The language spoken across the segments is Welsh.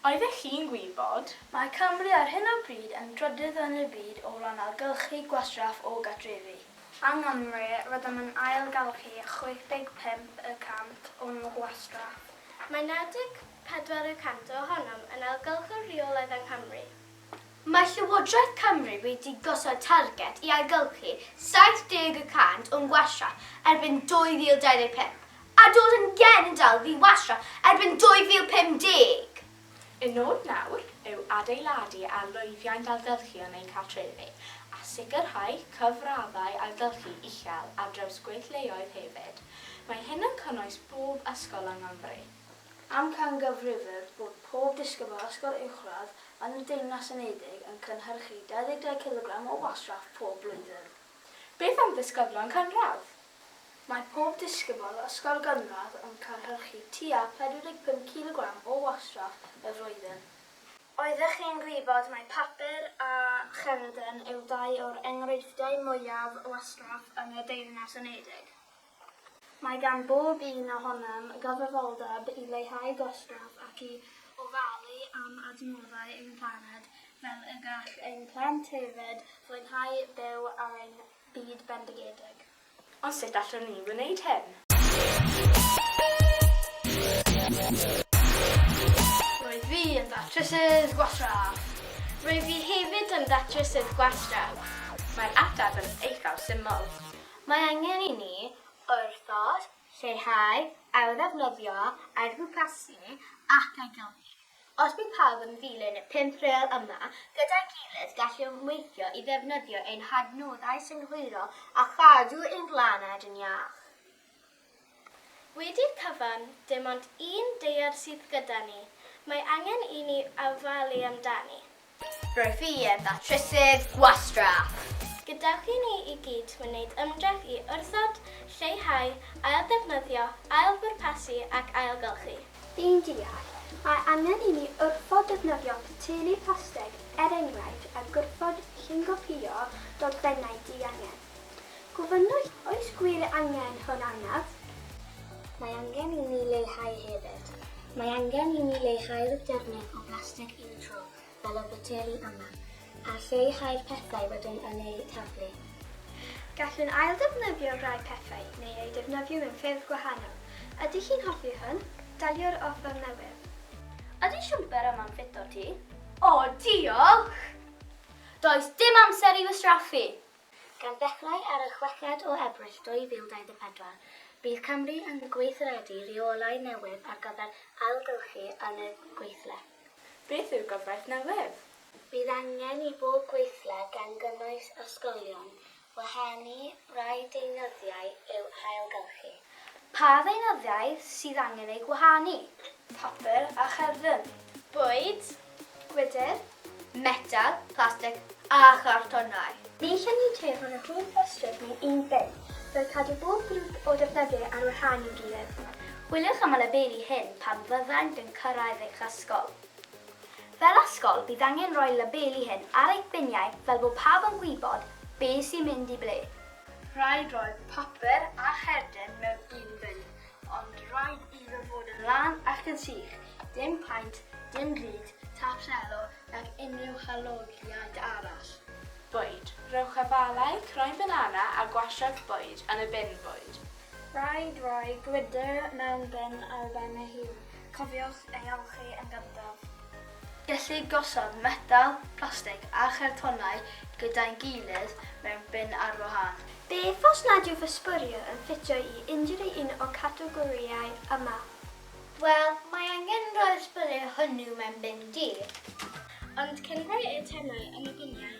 Oeddech chi'n gwybod? Mae Cymru ar hyn o bryd yn drydydd yn y byd o ran ailgylchu gwastraff o gartrefi. Yng Nghymru, rydym yn ailgylchu 65 y cant o'n gwastraff. Mae 94 y cant ohonom yn ailgylchu'r rheolaeth yng Nghymru. Mae Llywodraeth Cymru wedi gosod targed i ailgylchu 70 y cant o'n gwastra erbyn 2025, a dod yn genedl ddi-wastra erbyn 2050! Y nod nawr yw adeiladu ar lwyddiant ailgylchu yn ein cartrefi, a sicrhau cyfraddau ailgylchu uchel ar draws gweithleoedd hefyd. Mae hyn yn cynnwys pob ysgol yng Nghymru. Amcangyfrifir bod pob disgybl ysgol uwchradd yn y Deyrnas Unedig yn cynhyrchu 22 cilogram o wastraff pob blwyddyn. Beth am ddisgyblion cynradd? Mae pob disgybl ysgol gynradd yn cynhyrchu tua 45 cilogram o wastraff y flwyddyn. Oeddech chi yn gwybod mai papur a cherden yw dau o'r enghreifftiau mwyaf o wastraff yn y Deyrnas Unedig? Mae gan bob un ohonom gyfrifoldeb i leihau gwastraff ac i ofalu am adnoddau ein planed fel y gall ein plant hefyd fwynhau byw ar ein byd bendigedig. Ond sut allwn ni wneud hyn? Roedd fi yn ddatrysydd gwastraff. Roedd fi hefyd yn ddatrysydd gwastraff. Mae'r ateb yn eithaf syml. Mae angen i ni wrthod, lleihau, ailddefnyddio, ailbwrpasu ac ailgylchu. Os bydd pawb yn ddilyn y pump rêl yma gyda'i gilydd gallwn weithio i ddefnyddio ein hadnoddau synhwyrol a chadw ein blaned yn iach. Wedi'r cyfan, dim ond un deiar sydd gyda ni, mae angen i ni ofalu amdani. Rwyf i yn ddatrysydd gwastraff. Gadewch i ni i gyd wneud ymdrech i wrthod, lleihau, ailddefnyddio, ailbwrpasu ac ailgylchu. Yn deall, mae angen i ni wrthod defnyddio poteli plastig, er enghraifft, a gwrthod llungopïo dogfennau diangen. Gofynnwch, oes gwir angen hwn arnaf? Mae angen i mi leihau hefyd. Mae angen i mi leihau'r defnydd o blastig un tro, fel y boteli yma, a lleihau'r pethau rydym yn eu taflu. Gallwn ailddefnyddio rhai pethau neu eu defnyddio mewn ffyrdd gwahanol. Ydych chi'n hoffi hwn? Dalio'r offer newydd. Ydy siwmper yma'n ffit â ti? O, diolch! Does dim amser i fy straffu! Gan ddechrau ar y chweched o Ebrill 2024, bydd Cymru yn gweithredu rheolau newydd ar gyfer ailgylchu yn y gweithle. Beth yw'r gyfraith newydd? Bydd angen i bob gweithle, gan gynnwys ysgolion, wahanu rhai deunyddiau i'w hailgylchu. Pa ddeunyddiau sydd angen eu gwahanu? Papur a cherdyn. Bwyd. Gwydr. Metel, plastig a chartonau. Ni chan ni ceir ond yr un ystryd mewn un bin, fel cadw bob grŵp o ddefnyddiau ar wahân i'w gilydd. Chwiliwch am y labeli hyn pan fyddant yn cyrraedd eich ysgol. Fel ysgol, bydd angen rhoi labeli hyn ar eich biniau fel bod pawb yn gwybod beth sy'n mynd i ble. Rhaid rhoi papur a cherden mewn un bin, ond rhaid iddo fod yn lân ac yn sych, dim paent, dim drud, tap selo nag unrhyw halogiaid arall. Bwyd. Rhowch afalau, croen banana a gwasiant bwyd yn y bin bwyd. Rhaid rhoi gwydr mewn bin ar ben ei hun, cofiwch ei olchi yn gyntaf. Gellir gosod metel, plastig a chartonau gyda'i gilydd mewn bin ar wahân. Beth os nad yw fy sbwriel yn ffitio i unrhyw un o categorïau yma? Wel, mae angen rhoi'r sbwriel hwnnw mewn bin du. Ond cyn rhoi eitemau yn y biniau,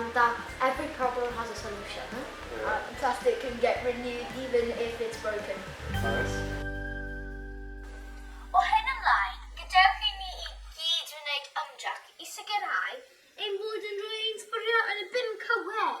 and that every problem has a solution. Yeah. Uh, plastic can get renewed even if it's broken. Nice. O hyn ymlaen, gadewch i ni i gyd wneud ymdrech i sicrhau ein bod yn rhoi ein sbwriel yn y bin cywir.